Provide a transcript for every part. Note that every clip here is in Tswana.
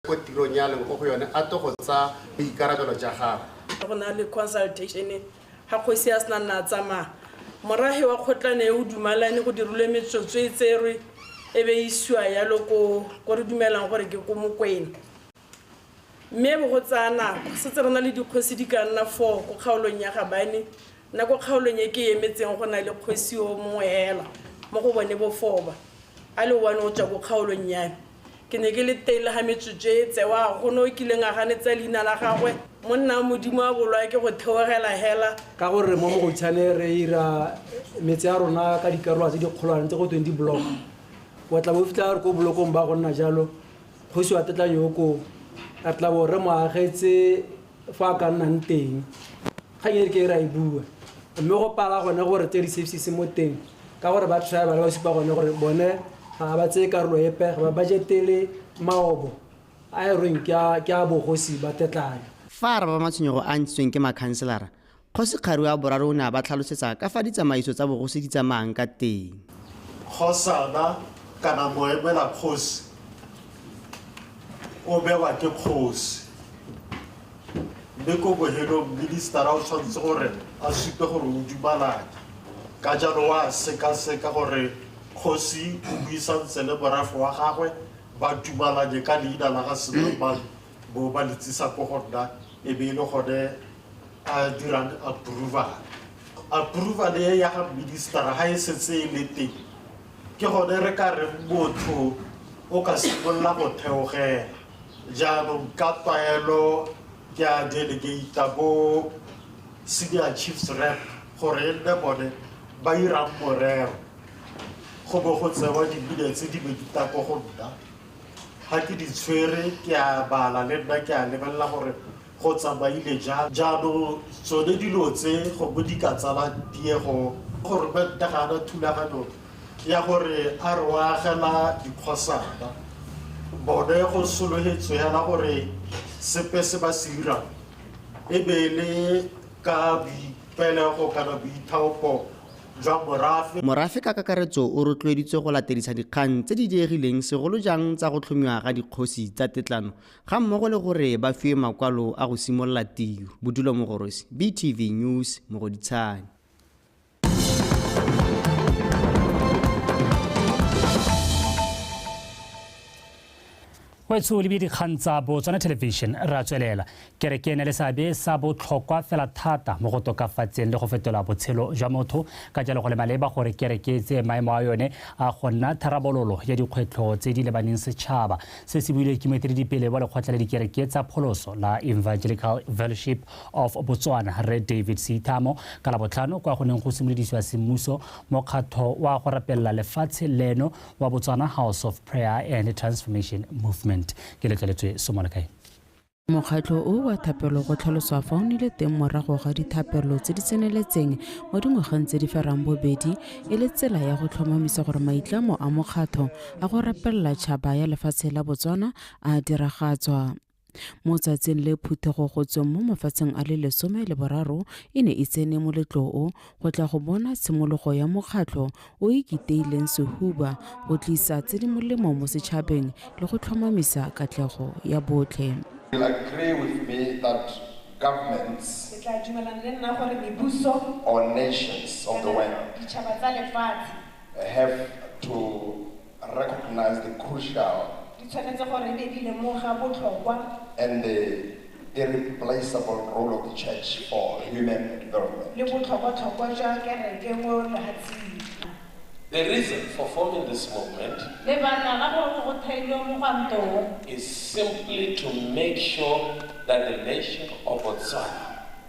ko tirong ya leng ko go yone a to go tsa boikarabelo ja gago go na le consultation ga kgosi ya sena nna tsamaya morage wa kgotlane e o dumalane go dirilwe metsotso e tserwe e be isiwa yalo ko ko re dumelang gore ke ko mokwena mme bo go tsaya nako setse re na le dikgosi di ka nna four ko kgaolong ya gabane nna ko kgaolong e ke emetseng go na le kgosi o mongwe hela mo go bone bofoba a le one o tswa ko kgaolong yame Ke ne ke le teng le ga metsotso e tsewa, a go ne o kileng a ganetsa leina la gagwe? Monna wa Modimo a bolawe ke go theogela hela. Ka gore mo Mogotshane re ira metse ya rona ka dikarolwa tse dikgolwane tse go tweng di block, wa tla bo fitlha re ko bolokong ba go nna jalo, kgosi wa Tetlanyooko, re tla bo re mo agetse fa a ka nnang teng kgang e ke e ra e bua mme go pala gone gore tse di sepsise mo teng ka gore ba try ba le ba supa gone gore bone ga ba tseye karolo epe ga ba bajetele maobo a e reng ke a bogosi ba tetlana fa a araba matshwenyego a ntshitsweng ke makhanselara Kgosi Kgarue a Boraro o ne a ba tlhalosetsa ka fa ditsamaiso tsa bogosi di tsamaang ka teng. Kgosana kana moemela kgosi o bewa ke kgosi mme ko bohelong ministara o tshwanetse gore a supe gore o dumalana ka jalo wa sekaseka gore kgosi o buisantse le morafe wa gagwe ba dumalanye ka leina la ga senamane bo ba letsisa ko go nna e be e le gone a dirang approval approval e ya ga ministera ga e setse e le teng ke gone re ka re motho o ka simolola go theogela jaanong ka tlwaelo ke a delegata bo senior chiefs rep gore e nne bone ba irang morero go bo go tsewa dibile tse di be di tako go nna Ga ke di tshwere ke a bala le nna ke a lebelela gore go tsamaile jang. Jaanong tsone dilo tse gongwe di ka tsala tiego. Goromente ga a na thulaganyo ya gore a re o agela dikgosana. Bone go solofetswe hela gore sepe se ba se dirang e be e le ka boipelego kana boithaopo. jwa morafe. Morafe ka kakaretso o rotloeditswe go latedisa dikgang tse di diegileng segolo jang tsa go tlhomiwa ga dikgosi tsa tetlano ga mmogo le gore ba fiwe makwalo a go simolola tiro. Bodulo Mogorosi, BTV News, Mogoditshane. Wetso o lebile dikgang tsa Botswana Television ra tswelela. Kereke e ne le seabe sa botlhokwa fela thata mo go tokafatseng le go fetola botshelo jwa motho, ka jalo go le maleba gore kereke e tseye maemo a yone a go nna tharabololo ya dikgwetlho tse di lebaneng setšhaba. Se se builwe ke moeteledipele wa lekgotla la dikereke tsa pholoso la Evangelical Fellowship of Botswana, Rre David Seithamo, ka Labotlhano kwa go neng go simolodisiwa semmuso mokgatlho wa go rapelela lefatshe leno wa Botswana House of Prayer and Transformation Movement. Ke letleletswe Somolakae. Mokgatlho o wa thapelo go tlhaloswa fa o nile teng morago ga dithapelo tse di tseneletseng mo dingwageng tse di ferang bobedi e le tsela ya go tlhomamisa gore maitlamo a mokgatlho a go rapelela tšhaba ya lefatshe la Botswana a diragatswa. Mo tsatsing le phuthego go tsweng mo mafatsheng a le lesome le boraro e ne e tsene moletloo go tla go bona tshimologo ya mokgatlho o e kiteileng sehuba go tlisa tse di molemo mo setšhabeng le go tlhomamisa katlego ya botlhe. recognize the crucial. Di tshwanetse gore e be di lemoga botlhokwa. And the irreplaceable role of the church for human development. Le botlhokwatlhokwa jwa kereke mo lehatsing. The reason for forming this movement is simply to make sure that the nation of Botswana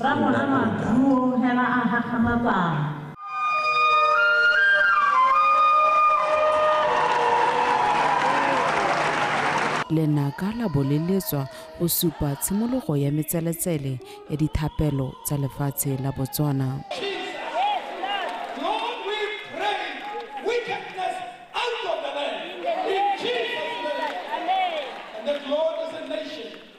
Rraagwe a nwa juo hela a gakgamatsana. Lenaka la bo le letswa go supa tshimologo ya metseletsele ya dithapelo tsa lefatshe la Botswana.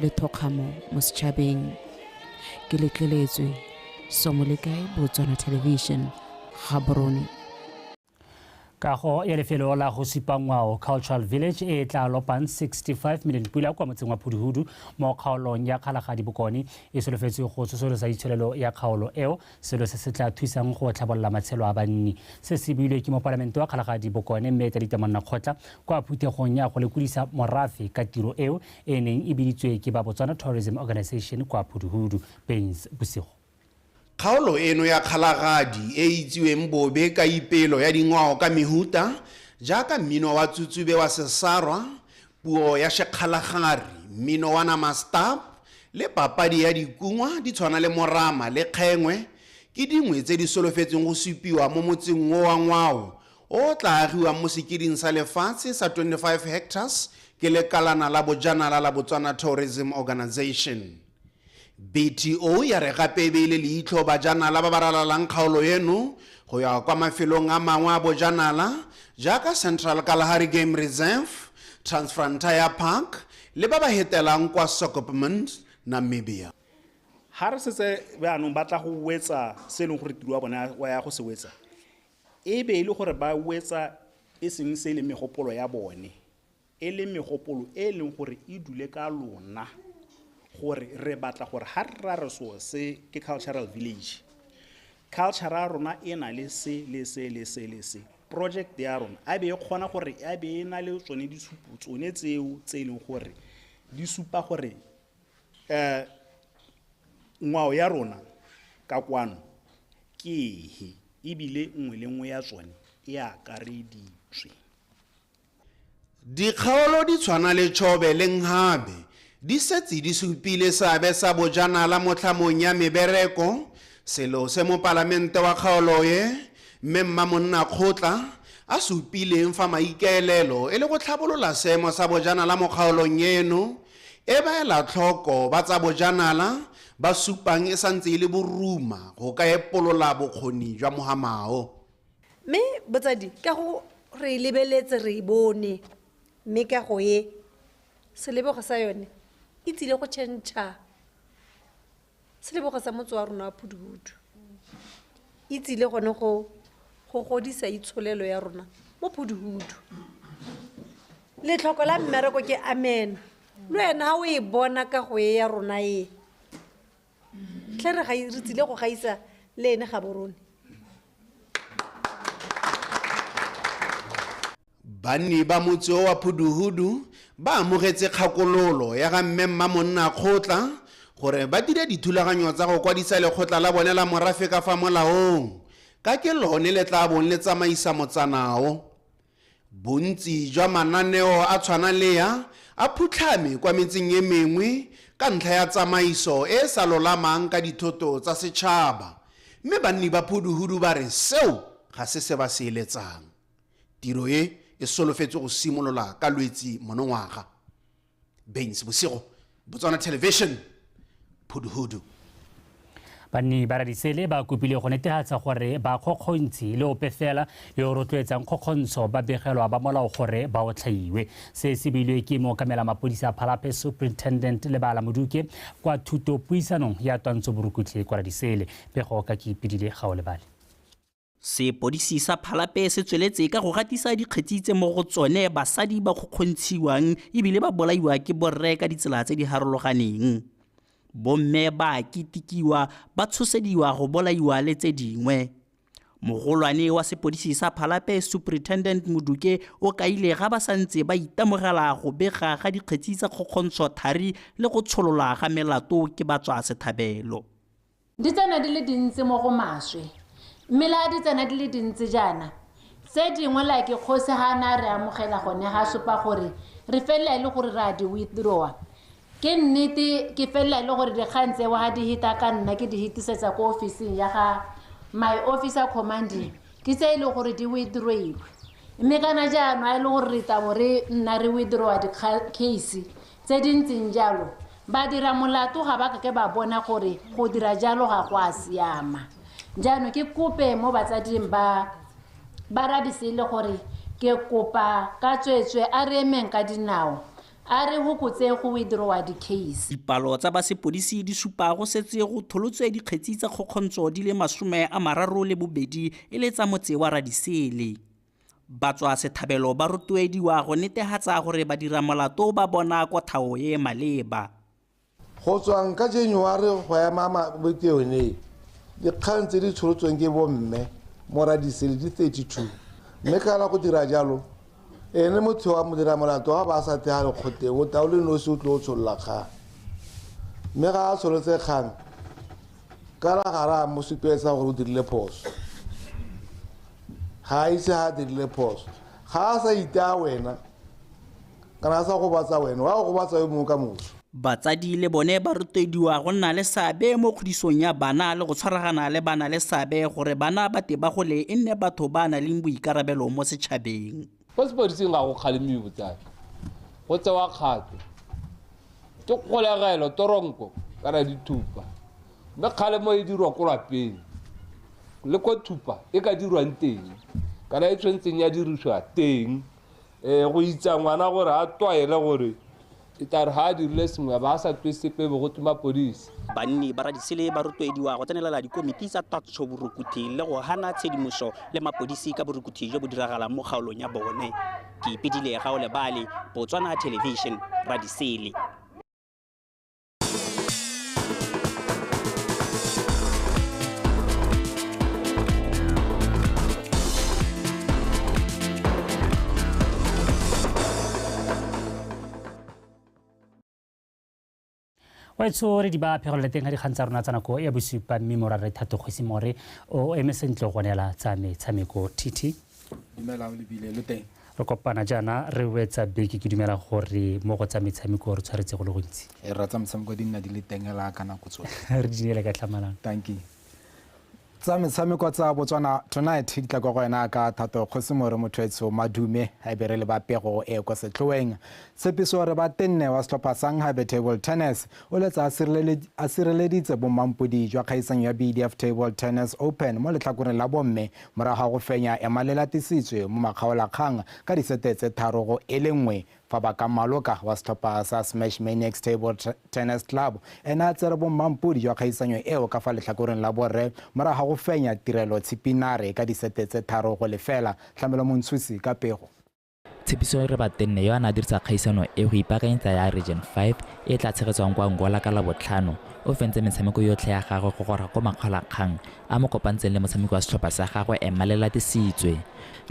le thokgamo mo setšhabeng ke letleletswe somolekae botswana television gaborone kago ya lefelo la go supa ngwao cultural village e tla lopang 65 million pula kwa motseng wa phuduhudu mo kgaolong ya kgalagadi bokone e solofetswe go tsosolosa itsholelo ya kgaolo eo selo se se tla thusang go tlhabolola matshelo a banni. Se se builwe ke mopalamente wa Kgalagadi Bokone mme Tlelita Monnakgotla kwa phuthegong ya go lekolisa morafe ka tiro eo e neng e biditswe ke ba Botswana Tourism Organisation kwa Phuduhudu, Bains, bosigo. Kgaolo eno ya Kgalagadi e e itsiweng bobe ka ipelo ya dingwao ka mehuta jaaka mmino wa Tsutsube wa Sesarwa, Puo ya Shekgalagari, mmino wa Namasta, le papadi ya dikungwa di tshwana le morama le kgengwe ke dingwe tse di solofetsweng go supiwa mo motseng wo wa ngwao o o tla agiwang mo sekeding sa lefatshe sa 25 hectares ke lekalana la bojanala la Botswana Tourism Organisation. BTO ya re gape e beile leitlho bajanala ba ba ralalang kgaolo eno go ya kwa mafelong a mangwe a bojanala jaaka Central Kalahari Game Reserve, Transfrontier Park le ba ba hetelang kwa Swakopmund, Namibia. Ga re setse jaanong ba tla go wetsa se e leng gore tiro ya bone wa ya go se wetsa e be e le gore ba wetsa e seng se e leng megopolo ya bone. e le megopolo e e leng gore e dule ka lona gore re batla gore ga re ra re so se ke cultural village culture ya rona e na le se le se le se le se project ya rona a be e kgona gore a be e na le tsone ditshupo tsone tseo tse e leng gore di supa gore um ngwao ya rona ka kwano ke ehe ebile nngwe le nngwe ya tsone e akareditswe Dikgaolo di tshwana le Chobe le Nghabe di setse di supile seabe sa bojanala mo tlhamong ya mebereko, selo se mopalamente wa kgaolo e, Mme Mmamonnakgotla, a supileng fa maikaelelo e le go tlhabolola seemo sa bojanala mo kgaolong eno e ba ela tlhoko ba tsa bojanala ba supang e santse e le boruma go ka epolola bokgoni jwa Mohamao. mme botsadi ka go re e lebeletse re e bone mme ka go e selebego sa yone e tsile go tšhentšha selebego sa motse wa rona wa phuduhudu e tsile gone go go godisa itsholelo ya rona mo phuduhudu letlhoko la mmereko ke amena le wena ga o e bona ka go e ya rona e tlhe re re tsile go gaisa le ene ga borone banni ba motse wa phuduhudu ba amogetse kgakololo ya ga mme mma monna kgotla gore ba dire dithulaganyo tsa go kwadisa lekgotla la bone la morafe ka fa molaong ka ke lone le tla bong le tsamaisa motsanao Bontsi jwa mananeo a tshwana le a a phutlhame kwa metseng e mengwe ka ntlha ya tsamaiso e e sa lolamang ka dithoto tsa setšhaba mme banni ba Phuduhudu ba re seo ga se se ba se eletsang. Tiro e e solofetswe go simolola ka Lwetsi monongwaga. bengs bosigo botswana television phuduhudu banni ba radisele ba kopile go netefatsa gore ba kgokgontshi le ope fela yo o rotloetsang kgokgontsho ba begelwa ba molao gore ba otlhaiwe se se beilwe ke mookamela mapodisi a phalape superintendent le bala moduke kwa thuto puisanong ya twantsho borukutlhe kwa radisele pego ka ke ipedile ga o lebale Sepodisi sa Phalape se tsweletse ka go gatisa dikgetsi tse mo go tsone basadi ba kgokgontshiwang ebile ba bolaiwa ke borre ka ditsela tse di harologaneng. Bomme ba a kitikiwa, ba tshosediwa go bolaiwa le tse dingwe. Mogolwane wa sepodisi sa Phalape Superintendent Moduke o kaile ga ba santse ba itemogela go bega ga dikgetsi tsa kgokgontsho thari le go tsholola ga melato ke batswa sethabelo. Di tsena di le dintsi mo go maswe, mme la di tsena di le dintsi jaana, tse dingwe la ke kgosi ha a ne a re amogela gone ga supa gore re felela e le gore re a di withdrawa. Ke nnete ke felela e le gore dikgang tseo ga di hita ka nna ke di hitisetsa ko ofising ya ga my officer commanding ke tse e le gore di withdrailwe. Mme kana jaanong a e le gore re itabo re nna re withdrawa dikgang case tse di ntseng jalo, badiramolato ga ba kake ba bona gore go dira jalo ga go a siama. Jaanong ke kope mo batsading ba ba rabisele gore ke kopa ka tsweetswe a re emeng ka dinao a re hokotse go withdrawa di-case. Dipalo tsa ba sepodisi di supa go setse go tholotswe dikgetsi tsa kgokgontsho di le masome a mararo le bobedi e le tsa motse wa Radisele. Batswasetlhabelo ba rotloediwa go netehatsa gore badiramolato ba bona kothao e e maleba. Go tswang ka January go ema bopeonei, dikgang tse di tsholotsweng ke bomme Moradisele di 32 mme ka la go dira jalo ene motho wa modiramolato wa Baasatega Lekgotleng o taole nosi o tloo tsholola kgang mme ga a tsholotse kgang ka la ga re a mo supetsa gore o dirile phoso. ga a ise ga a dirile phoso ga a sa itaa wena kana a sa gobatsa wena wa go gobatsa yo mongwe ka moso batsadi le bone ba rotediwa go nna le seabe mo kgodisong ya bana le go tshwaragana le bana le seabe gore bana ba te ba gole e nne batho ba na leng boikarabelo mo setšhabeng Kwa sepodising ga go kgalemiwe botsadi, go tsewa kgato. Ke kgolegelo, toronko kana dithupa. Mme kgalemo e dirwa ko lapeng le ko thupa e ka dirwang teng kana e tshwanetseng ya dirisiwa teng um go itsa ngwana gore a tlwaele gore E tla re ga a dirile sengwe a ba a sa twe sepe e be go twe mapodisi. Banni ba Radisele ba rotloediwa go tsenelela dikomiti tsa tatso borukuthi le go hana tshedimoso le mapodisi ka borukuthi jo bo diragalang mo kgaolong ya bone. Ke Ipidile Gaolebale, Botswana Television, Radisele. waetsho re di ba phegelole teng ga dikgang tsa rona tsa nako ya bosupa mme mora re thato kgosi more o eme sentle go neela tsa metshameko titi re kopana jaana re wetsa beke ke dumela gore mo go tsa metshameko re tshwaretse go le gontsi e re tsa metshameko di nna di le tengela ka nako tsotlhe re di neele ka tlhamalang thank you tsa metshameko tsa botswana tonight di tla kwa go wena ka thato kgosi more mothoetsho madume a be re le ba pego e kwa setlhoeng tshepiso re ba tenne wa setlhopha sa nghabe table tennis o letsa a sireleditse bommampodi jwa kgaisano ya bdf table tennis open mo letlhakoreng la bomme morago ga go fenya ema le latisitswe mo makgaolakgang ka disete tse tharo go e le nngwe Fabaka Maloka wa setlhopha sa Smash Maniacs Table Tennis Club ene a tsere bommampodi jwa kgaisanyo eo ka fa letlhakoreng la borre morago ga go fenya Tirelo Tshipinare ka disete tse tharo go lefela. Tlamelo Montshusi ka pego. Tshepiso Rebatenne yo a ne a dirisa kgaisano e go ipaakanyetsa ya Region Five e e tla tshegetswang kwa Angola ka Labotlhano, o fentse metshameko yotlhe ya gagwe go gora ko makgolakgang a mo kopantseng le motshameki wa setlhopha sa gagwe Emma Lelatisitswe.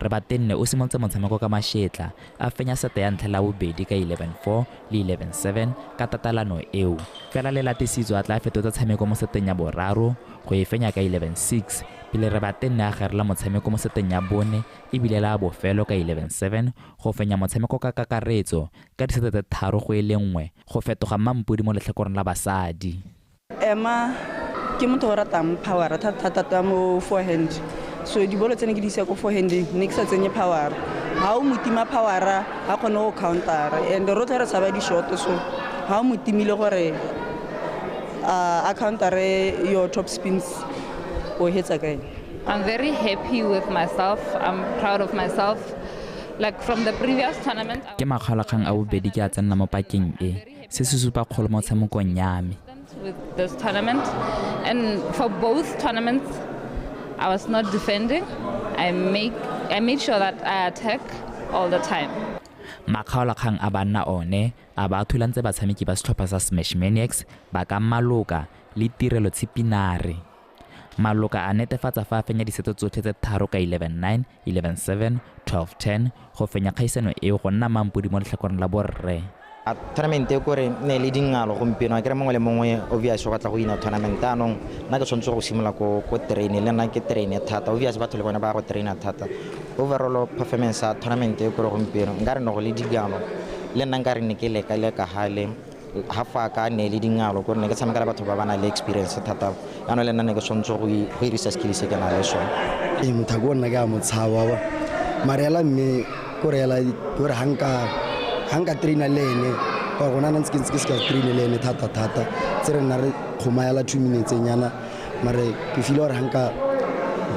Rebatenne o simolotse motshameko ka mašetla a fenya sete ya ntlha le ya bobedi ka 11-4 le 11-7 ka tatalano eo, fela Lelatisitswe a tla fetotsa tshameko mo seteng ya boraro go e fenya ka 11-6 pele Rebatenne a gerela motshameko mo seteng ya bone e bile la bofelo ka 11-7 go fenya motshameko ka kakaretso ka disete tse tharo go e le nngwe go fetoga Mmampodi mo letlhakoreng la basadi. Emma ke motho o ratang power thata-thata mo forehand so dibolo tse ne ke di isa ko forehand ne ke sa tsenye power ga o motima power ga kgone go counter and rotlhe re tshaba di-short so ga o motimile gore a countere your top spins o hetsa ka ene I'm very happy with myself. I'm proud of myself. Like from the previous tournament. Ke makgalakgang a bobedi ke a tsenna mo pakeng e. se se supa kgolo mo tshamekong ya me I was not defending. I make I made sure that I attack all the time. makgaolakgang a banna one a ba thulantse batshameki ba setlhopha sa Smash Maniacs ba ka maloka le tirelo tshipinare. Maloka a netefatsa fa a fenya diseto tsotlhe tse tharo ka 11-9, 11-7, 12-10 go fenya kgaisano eo go nna mampodi mo letlhakoreng la borre. A tournament e kore ne le dingalo gompieno a kere mongwe le mongwe obvious o batla go ina tournament anong nna ke tshwanetse go simolola ko ko train le nna ke train thata obvious batho le bone ba go traina thata overall performance ya tournament e kore gompieno nka re ne go le dingalo le nna nka re ne ke leka leka hale ga fa ka ne le dingalo gore ne ke tshameka le batho ba ba nang le experience thata yanong le nna ne ke tshwanetse go hirisa skill se ke na le sone ee mothako o nna ke a motshaba ba marela mme ko reela gore ga nka ga nka traina le ene ka gona na ntse ke ntse ke se ka traine le ene thata thata tse re nna re kgomayela two minutes nyana mare ke file gore ga nka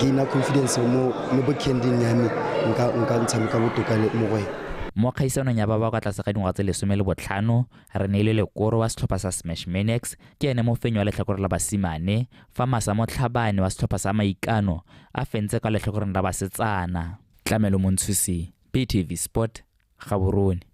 gaina confidence mo mo bookending ya me nka nka ntshameka botoka mo go ene Mo kgaisanong ya ba ba kwa tlase ga dingwaga tse lesome le botlhano, Reneilwe Lekoro wa setlhopha sa Smash Maniacs ke ene mofenyi wa letlhakore la basimane, fa Masa Motlhabane wa setlhopha sa Maikano a fentse kwa letlhakoreng la basetsana. Tlamelo Montshusi, BTV Sport, Gaborone.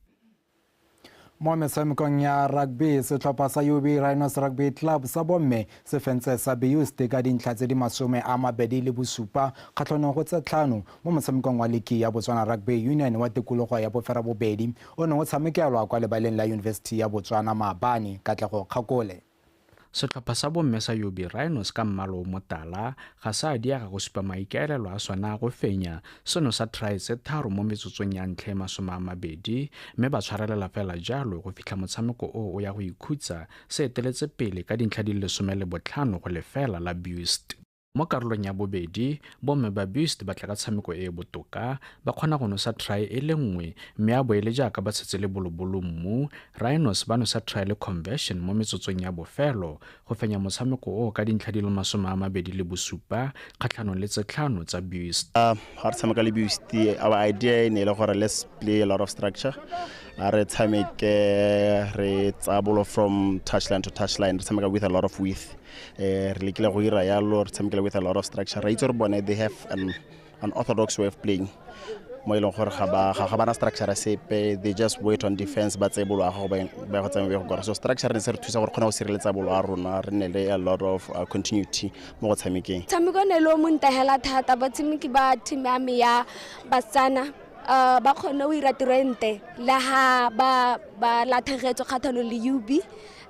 Mo metshamekong ya rugby, setlhopha sa UB Rhinos Rugby Club sa bomme se fentse sa Beusd ka dintlha tse di masome a mabedi le bosupa kgatlhanong go tse tlhano mo motshamekong wa liki ya Botswana Rugby Union wa tikologo ya Boferabobedi o ne o tshamekelwa kwa lebaleng la Yunibesithi ya Botswana Maabane. Katlego Kgakole. Setlhopha sa bomme sa Yobi Rhinos ka mmala o motala ga se a diega go supa maikaelelo a sona a go fenya seno sa trae tse tharo mo metsotsong ya ntlha e masome a mabedi mme ba tshwarelela fela jalo go fitlha motshameko o o ya go ikhutsa se eteletse pele ka dintlha di le lesome le botlhano go lefela la Bust. Mo karolong ya bobedi, bomme ba Buist ba tla ka tshameko e e botoka, ba kgona go nosa try e le nngwe mme a bo e le jaaka ba tshetse le bolobolo mmu, Rhinos ba nosa try le conversion mo metsotsong ya bofelo go fenya motshameko oo ka dintlha di le masome a mabedi le bosupa kgatlhanong le tse tlhano tsa Buist. Ga re tshameka le Buist, our idea e ne e le gore let's play a lot of structure. A re tshameke re tsaya bolo from touchline to touchline, re tshameka with a lot of width. eh re lekile go ira yalo re tshamekela with a lot of structure ra itse gore bone they have an, an orthodox way of playing mo e leng gore ga ba ga bana structure sepe they just wait on defense ba tse bolo go ba go tsamaya go gore so structure ne se re thusa gore kgona go sireletsa bolo a rona re ne le a lot of uh, continuity mo go tshamekeng tshameko ne lo mo ntahela thata ba tshameki ba team ya me ya batsana uh, ba kgone o ira tiro e nte le ha ba ba lathegetswe kgathano le UB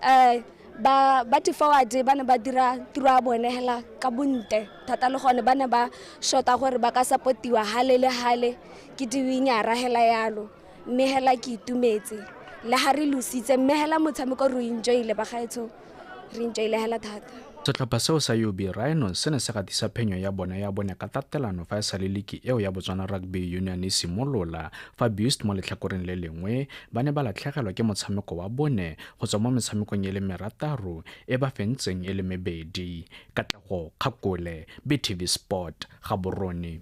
uh, ba ba forward ba ne ba dira tiro ya bone hela ka bonte thata le gone ba ne ba shota gore ba ka supportiwa hale le hale ke diwinyara hela yalo mme hela ke itumetse le ga re lositse mme hela motshameko re enjoyle ba gaetsho re enjoyle hela thata setlhopha seo sa ub rhinos se ne se gatisa phenyo ya bone ya bone ka tatelano fa e sa le liki eo ya botswana rugby union e simolola fa bust mo letlhakoreng le lengwe ba ne ba latlhegelwa ke motshameko wa bone go tswa mo metshamekong e le merataro e ba fentseng e le mebedi katlego kgakole btv sport ga borone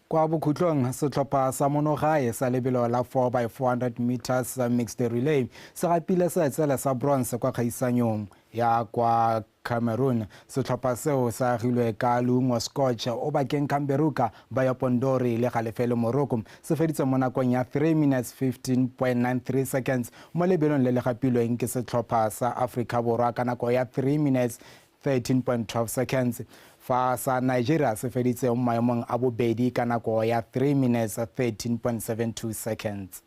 kwa bokhutlong setlhopha sa monogae sa lebelo la 4 by 400 meters mixed relay se gapile seetsele sa bronze kwa kgaisanyong ya kwa Cameroon. Setlhopha seo sa agilwe ka leungo scotch o bakeng Camberuka, Bayo Pondori le Galefelo Moroko. Se feditse mo nakong ya 3 minutes 15.93 seconds mo lebelong le le gapilweng ke setlhopha sa Aforika Borwa ka nako ya 3 minutes 13.12 seconds fa sa Nigeria se feditse mo maemong a bobedi ka nako ya 3 minutes 13.72 seconds.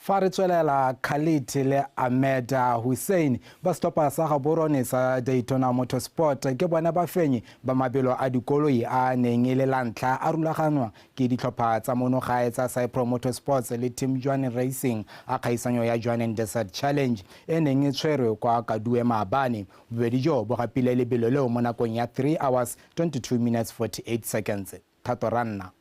Fa re tswelela, Khalid le Ahmed Hussein ba setlhopha sa gaborone sa Daytona Motorsport ke bone bafenyi ba mabelo a dikoloi a a neng e le la ntlha a rulaganwa ke ditlhopha tsa monogae tsa Cypro Motorsports le Team Jwaneng Racing a kgaisanyo ya Jwaneng Desert Challenge e neng e tshwerwe kwa Kadue maabane. Bobedi joo bo gapile lebelo leo mo nakong ya 3 hours 22 minutes 48 seconds. Thato Ranna.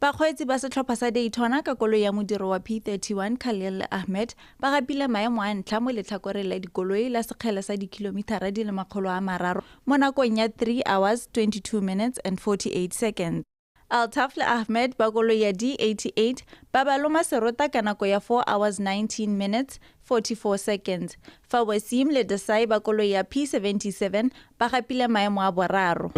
bakgweetsi ba setlhopha sa daytona ka koloi ya modiro wa p31 khalil ahmed ba gapile maemo a ntlha mo letlhakoreng la dikoloi la sekgele sa dikilomithara di le makgolo a mararo mo nakong ya 3 hours 22 minutes and 48 seconds Altaf le Ahmed ba koloi ya D88 ba ba loma serota ka nako ya 4 hours 19 minutes 44 seconds fa Wasim le Desai ba koloi ya P77 ba gapile maemo a boraro.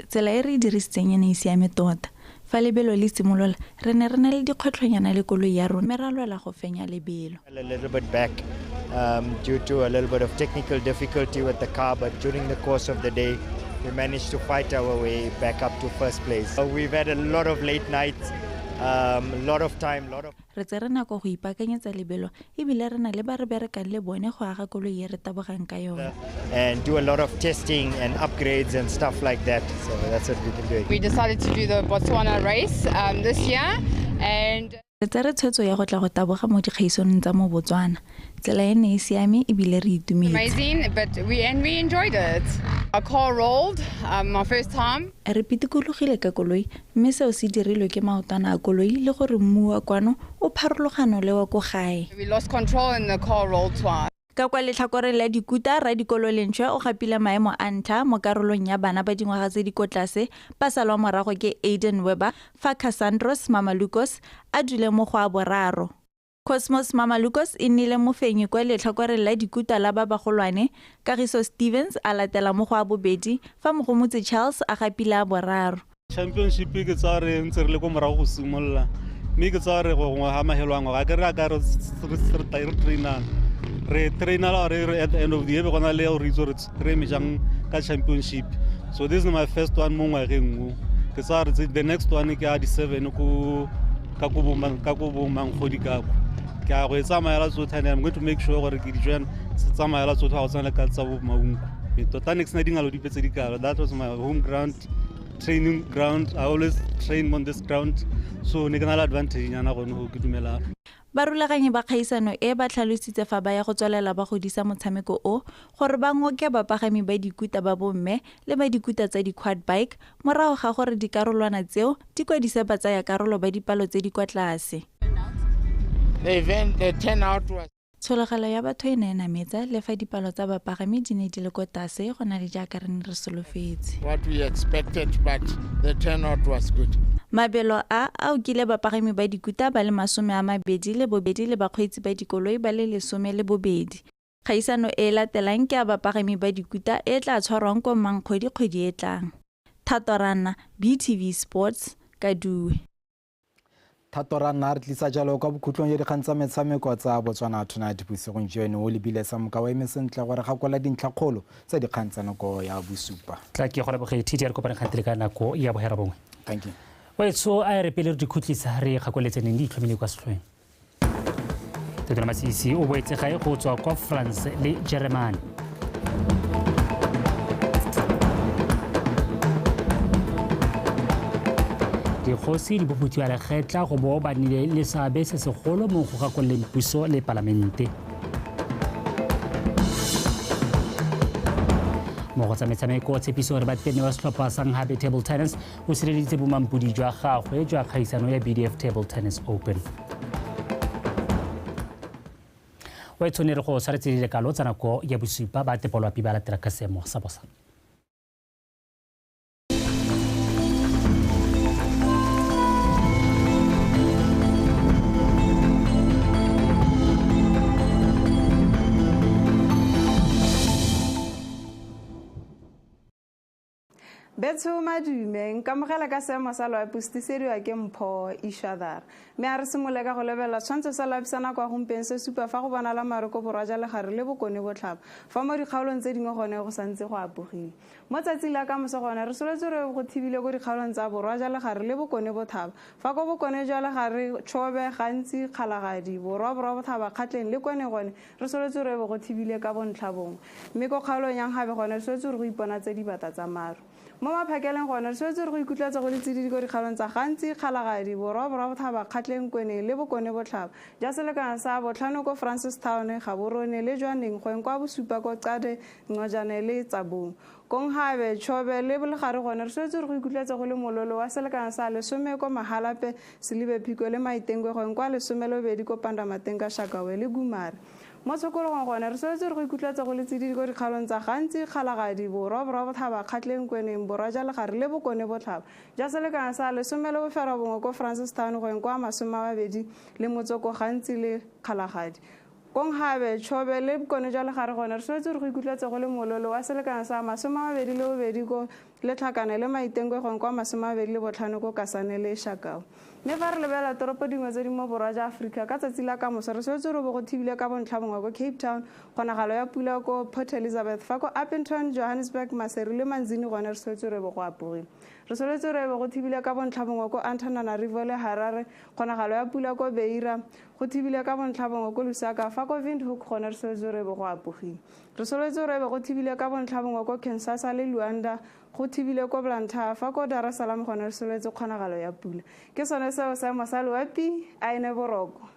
Tsela e re e dirisitseng e ne e siame tota. Fa lebelo le simolola, re ne re na le dikgwetlhonyana le koloi ya rona mme ra lwela go fenya lebelo. A little bit back um, due to a little bit of technical difficulty with the car, but during the course of the day, we managed to fight our way back up to first place. So we've had a lot of late nights, um, a lot of time, a lot of. Re tsere nako go ipaakanyetsa lebelo e bile re na le ba re berekang le bone go aga koloi e re tabogang ka yone. and do a lot of testing and upgrades and stuff like that. So that's what we've been doing. We decided to do the Botswana race um, this year and Re tsere tshwetso ya go tla go taboga mo dikgaisonong tsa mo Botswana. Tsela e ne e siame e bile re itumetse. amazing, but we and we enjoyed it. Our car rolled, um, my first time. Re pitikologile ka koloi Mme seo se dirilwe ke maotwana a koloi le gore mmu wa kwano o pharologano le wa ko gae. Ka kwa letlhakoreng la dikuta, Radikolo Lentšhwe o gapile maemo a ntlha mo karolong ya bana ba dingwaga tse di ko tlase ba salwa morago ke Aiden Weber fa Cassandros Mamalukos a dule mo go a boraro. Cosmos Mamalukos e nnile mofenyi kwa letlhakoreng la dikuta la ba bagolwane, Kagiso Stevens a latela mo go a bobedi, fa Mogomotsi Charles a gapile a boraro. Championship ke tsaya re ntse re le ko morago go simolola mme ke tsaya re gongwe ga magelo a ngwaga ke re a ka re trainang re trainala re at the end of the year be gona le ya gore itse gore re eme jang ka championship so this is my first one mo ngwageng o ke tsaya re the next one ke a di-seven ko ka ko bomangkgodi kako ke a go e tsamaela tsotlhe and i'm going to make sure gore ke dijoan se tsamaela tsotlhe ga go tshwana le ka tsa bomaunko tota next na dingalo dipe tse di kalo that was my home ground training ground i always train on this ground so ne ke na le advantage nyana gone go ke dumelang Barulaganyi ba kgaisano e ba tlhalositse fa ba ya go tswelela ba godisa motshameko o gore ba ngoke bapagami ba dikuta ba bomme le ba dikuta tsa di-quad bike morago ga gore dikarolwana tseo di kwadise batsayakarolo ba dipalo tse di kwa tlase. Tshologelo ya batho e ne e nametsa le fa dipalo tsa bapagami di ne di le ko tase go na le jaaka re ne re solofetse. Mabelo a a okile bapagami ba dikuta ba le masome a mabedi le bobedi le bakgweetsi ba dikoloi ba le lesome le bobedi. Kgaisano e e latelang ke ya bapagami ba dikuta e e tla tshwarwang ko Mankgodi kgwedi e tlang. Thato Ranna, BTV Sports, Kadue. thato ra nna a re tlisa jalo kwa bokhutlong ya dikgang tsa metshameko tsa botswana tonight bosigong joeno o lebile sa moka o eme sentle gore ga kola dintlhakgolo tsa dikgang tsa nako ya bosupa tla ke go leboge td ya re kopane kgantele ka nako ya bohera bongwe thank you oetsho a e re pele re di khutlisa re kgakoletse neng di itlhomile kwa setlhoeng totela masisi o boetse gae go tswa kwa france le jeremane dikgosi di boputsiwa lekgetla go bo ba nile le seabe se segolo mo go gakololeng puso le palamente mo go tsa metshameko tshepiso gore ba tene wa setlhopha sa nghabe table tennis o sireleditse bomampodi jwa gagwe jwa kgaisano ya bdf table tennis open o e tshwanere go tshwaretse dilekalo tsa nako ya bosupa ba tepolwapi ba latela ka seemo sa bosa Betso madume nkamogela ka seemo sa loapostisediwa ke mpho ishadhar mme a re simole ka go lebelela tshwantsho sa loapi sa nako ya gompeng se supa fa go bonala maroko borwa ja legare le bokone botlhaba fa mo dikgaolong tse dingwe gone go santse go apogile mo tsatsing la kamoso gone re soletse re go thibile ko dikgaolong tsa borwa ja legare le bokone bothaba fa ko bokone jwa legare tshobe gantsi kgalagadi borwa borwa bothaba kgatleng le kone gone Re solotse gore e be go thibile ka bontlhabongwe, mme ko kgaolong ya Nkgabe gone re solotse gore go iponatse dibata tsa maru. Mo Maphakeleng gone re solotse gore go ikutlatse go le tsididi ko dikgaolong tsa Gantsi, Kgalagadi, Borwa, Borwa Bothaba, Kgatleng, Kweneng le Bokone Botlhaba, ja selekano sa Botlhano ko Francistown, Gaborone le jwa Nengkgweng kwa Bosupa ko Qade, Nqojane le Tsabong. Konghabe, Chobe le Bolegare gone re swetse re go ikutlwetse go le mololo wa selekana sa lesome ko Mahalape, Selibe Phiko le Maitengwegweng kwa lesomelobedi ko Pandamateng ka Shakawe le Gumare. Mo Tshokologong gone re swetse re go ikutlwetse go le tsididi ko dikgaolong tsa Gantsi, Kgalagadi, Borwa, Borwa Botlhaba, Kgatleng, Kweneng, Borwa ja Legare le Bokone Botlhaba ja selekana sa lesome le boferabongwe ko Francistown goeng kwa Masomemabedi le Motsoko Gantsi le Kgalagadi. Kong gabe, Chobe le Bokone jwa Legare gone re swetse gore go ikutlwetse go le mololo wa selekano sa masome a mabedi le bobedi ko Letlhakane le Maitengwe gongwe kwa masome a mabedi le botlhano ko Kasane le Shakau. Mme fa re lebelela toropo dingwe tse di mo borwa ja Aforika ka tsatsi la kamoso re swetse gore bo go thibile ka bontlhabongwe ko Cape Town, kgonagalo ya pula ko Port Elizabeth, fa ko Upington, Johannesburg, Maseru le Manzini gone re swetse gore bo go apogile. Re swetse gore bo go thibile ka bontlhabongwe ko Antananarivo le Harare, kgonagalo ya pula ko Beira, Go thibile ka bontlhabongwe ko Lusaka fa ko Windhoek gone re soletse gore ebe go apogile. Re soletse gore ebe go thibile ka bontlhabongwe ko Kinsasa le Luanda, go thibile ko Blantyre fa ko Dar es Salaam gone re soletse kgonagalo ya pula. Ke sone seo seemo sa loapi a ene boroko.